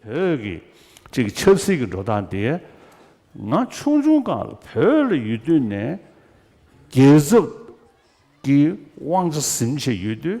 བོད་ཀྱི་གཅིག་ཆབ་སྲིད་ཀྱི་འགྲོ་སྟངས་དེ་ང་ཆུང་ཆུང་གང་ལ་བོད་ལ་ཡོད་དུས་ནས་རྒྱལ་ཚབ་ཀྱི་དབང་ཆ་ཟིན་བྱས་ཡོད་དུས།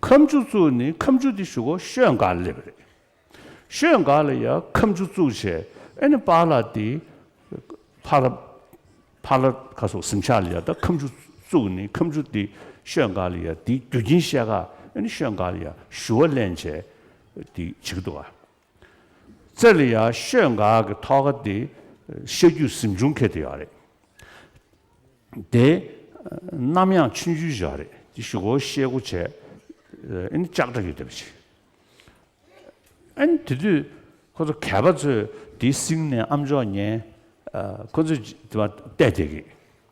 ཁམ་ཆུ་བཙུགས་ནི་ཁམ་ཆུ་དེ་ཞུགས་གོ་ཤོད་འགག་སླེབས་རེད། ཤོད་འགག་ལ་ཡང་ཁམ་ཆུ་བཙུགས་བྱས་ཨེ་ནི་པཱ་ལ་དེ། ཕ་ལ་ཕ་ལ་ག་སོགས་གཟིམ་ཤག་ལ་ཡང་ད་ཁམ་ཆུ་བཙུགས་ནི་ཁམ་ཆུ་དེ་ཤོད་འགག་ལ་ཡང་དེའི་རྒྱུ་རྐྱེན་བཤད་ག་ཨེ་ནི་ཤོད་འགག་ལ་ཡང་ཞུ་བ་གླེན་བྱས་དེ་བྱེད་ཀྱི་འདུག་ག། རྩེ་ལ་ཡར་ཤོད་འགའ་གི་ཐོག་ཁ་དེ་བཤད་རྒྱུ་གཟིམ་ཆུང་ཁད་དུ་ཡག་རེད་དེ། ནམ་ཡང་ཆུན་ཆུན་བཞག་རེད་དེ་བཞི་གོ་བཤད་དགུ་བྱས་ཨེ་ནི་ལྕགས་དྲ་ཡོད་དེ་བ་ཆེ། ཨེ་ནི་དེ་དུས་ཁོ་ཚོ་གད་པ་ཚོས་དེའི་སིང་ནས་ཨམ་ཅོག་ཉན་ཁོ་ཚོས་དེ་བ་བལྟས་བསྡད་གི།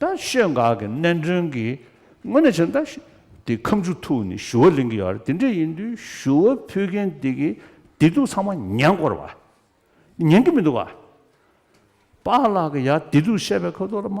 ད་ཤོད་འགག་གི་གནད་མགྲོན་གྱི་དངོས་གནས་བྱས་ན་ད་དེ་ཁམས་ཆུ་ཐུག་ནས་ཞུ་བ་ལེན་གྱི་ཡོད་རེད་དེ་འདྲ་ཡིན་དུས་ཞུ་བ་ཕུལ་མཁན་དེ་གི་བདེ་སྡུག་ཚང་མ་ཉན་དགོས་རེད་བ། ཉན་གྱི་མི་འདུག་བ། པཱ་ལགས་ཀྱི་ཡ་བདེ་སྡུག་བཤད་པའི་ཁོ་ཚོ་ལ་མ